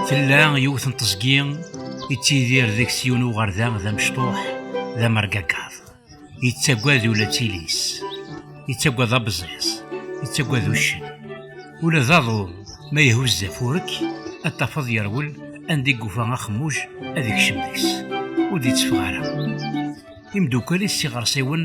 Tella yiwet n teẓgi yettidir deg-s yiwen uɣerda d amecṭuḥ d amergagaḍ yettagad ula d tili-s yettagad abẓiẓ yettagad uccen ula d aḍu ma ihuzz afurek ad tafeḍ yerwel anda i yufa axemmuj ad ikcem deg-s ur d-itteffeɣ ara imeddukal-is s iɣersiwen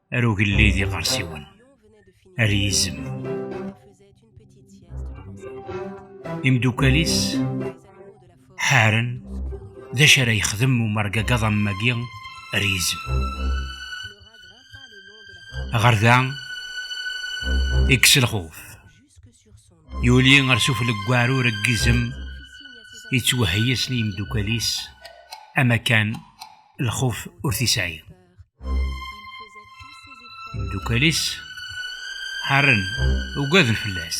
ar ugellid iɣersiwen ar yizem imdukkal-is ḥaren d acu ara yexdem umergag aḍammagi ar yizem ɣer da ikkes lxuf yuli ɣer sufel n weɛrur n yizem yettweheyya s yimdukkal-is amakan lxuf ur t-isɛi Dukalis ḥaren ugaden fell-as.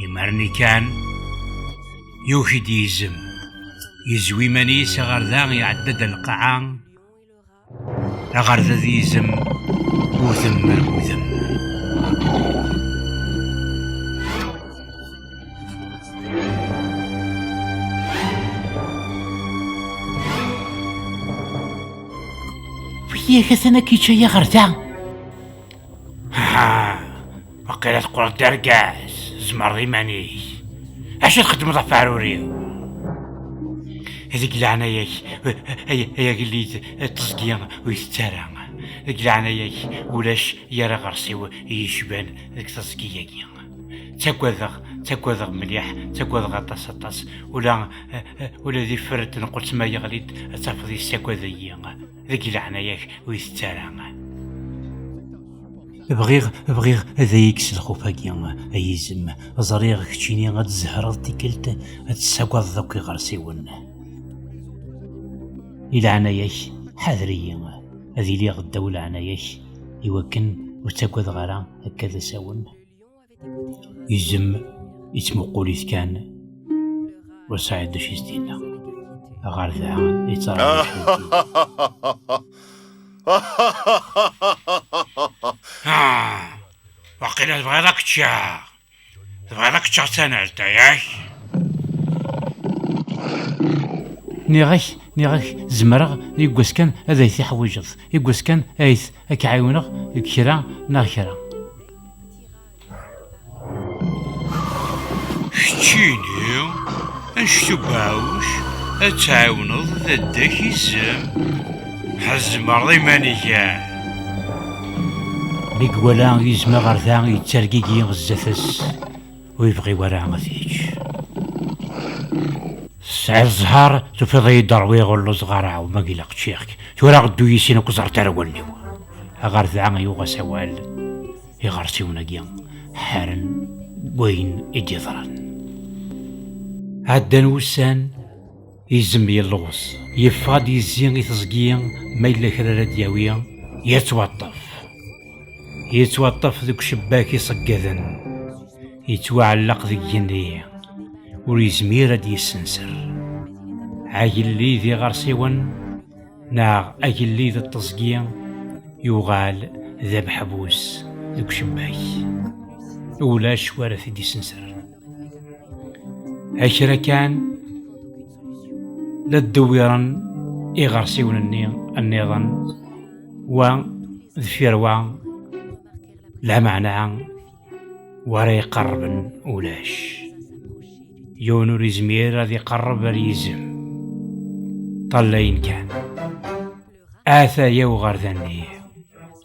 Imarni kan yuki-d yizem. Yezwi iman-is aɣer da iɛedda-d lqaɛa. Aɣer da d yizem udem ar udem. Yak atan ad k-yečča ɣer da. Ha, waqila teqqleḍ d argaz, tzemreḍ iman-ik. Acu txeddmeḍ ɣef aɛrur-iw? Deg leɛnaya-k, ay agellid, teẓgi ur itett ara. Deg leɛnaya-k, ulac yir aɣersiw yecban deg teẓgi-agi. ttagadeɣ ttagadeɣ mliḥ ttagadeɣ aṭas aṭas ula eh, eh, ula di ffer tenqels ma yeɣli-d ad tafeḍ yessagad-iyi deg leɛnaya-k ur itett ara bɣiɣ bɣiɣ ad ayik s lxuf-agi ay izem ẓriɣ keččini ad tzehreḍ tikkelt ad tessagadeḍ akk iɣersiwen i leɛnaya-k ḥader-iyi ad iliɣ ddaw leɛnaya-k iwakken ur ttagadeɣ ara akka d asawen izem yettmuqul-it kan ur sɛid d acu i s-d-yenna ɣer da yettṛaǧu waqila tebɣiḍ ad k-ččeɣ tebɣiḍ ad k-ččeɣ d tanalt yak nniɣ-ak nniɣ-ak zemreɣ yiggwas kan ad ay-t-iḥwijeḍ yiggwas kan ay ad k-ɛiwneɣ deg kra neɣ kra. Keččini, anect ubeɛɛuc, ad tɛiwneḍ dadda-k izem, ḥezmeɣ d iman-ik. Mi iwala izem aɣerda yettergigi sdat-s. ur yebɣi wara ad t-yečč. Tesɛiḍ zzher, tufiḍ-iyi-d ṛwiɣ ur lluẓeɣ ara, ma ilaq ččiɣ-k. Tura ddu yis-i nekk ẓer tara wallen-iw. Ɣer da i yuɣ asawal, iɣersiwen-agi ḥaren wayen i d-yeḍran. Ɛeddan wussan. izem yelluẓ yeffeɣ-d yezzi i teẓgi ma yella kra ara d-yawi yettwaṭṭef yettwaṭṭef deg ucebbak iṣeggaden yettwaɛelleq deg yigenni ur yezmir ad d-yessenser agellid iɣersiwen neɣ agellid d teẓgi yuɣal d abeḥbus deg ucebbak ulac war ad t-id-yessenser Akra kan la ddewwiren iɣersiwen-nni nniḍen wa deffir wa lameɛna wa ara iqerrben ulac yiwen ur izmir ad iqerreb ar yizem ṭallayen kan ata ya uɣerda-nni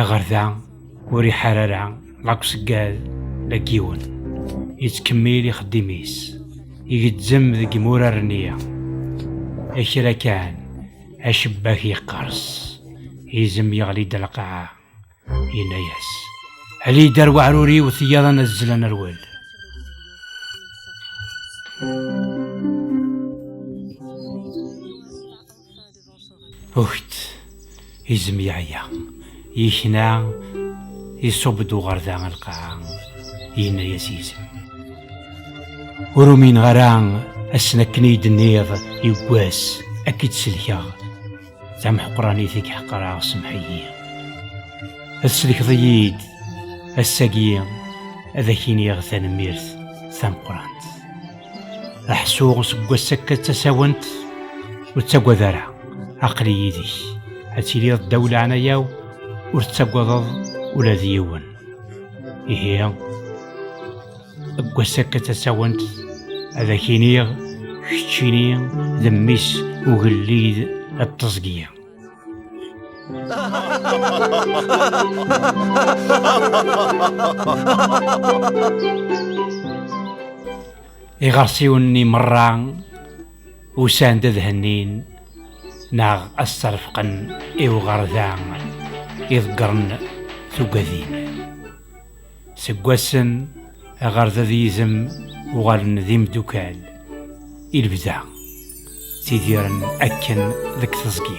aɣerda ur iḥar ara laku seggal la yiwen yettkemmil ixeddim-is igezzem deg imurar-nni akra kan acebbak yeqqers izem yeɣli-d lqaɛa yenna-yas ali-d ar weɛrur-iw teyyaḍ ad nazzel ad nerwel Ukt, izem yeɛya, yekna, iṣubb-d uɣerda ɣer lqaɛa, yenna-yas yizem. Ur umineɣ ara assen akken i yi-d-tenniḍ yiggwas ad k-id-selkeɣ d ameḥqranit i k-ḥeqreɣ semmeḥ-iyi. Ad tselkeḍ-iyi-d ass-agi ad ak-iniɣ tanemmirt tameqqrant. Aḥsuɣ seg wass akka d tasawent ur ttagad ara aqli yid-k ad tiliḍ ddaw leɛnaya-w ur tettagadeḍ ula d yiwen ihi deg wass akka d tasawent ad ak-iniɣ keččini d mmi-s ugellid d teẓgi Iɣersiwen-nni merra usan-d ad hennin neɣ ad sserfqen i uɣerda iḍeggren tugadin. Seg wassen aɣerdad yid-m uɣalen d imdukal, i lebda ttidiren akken deg teẓgi.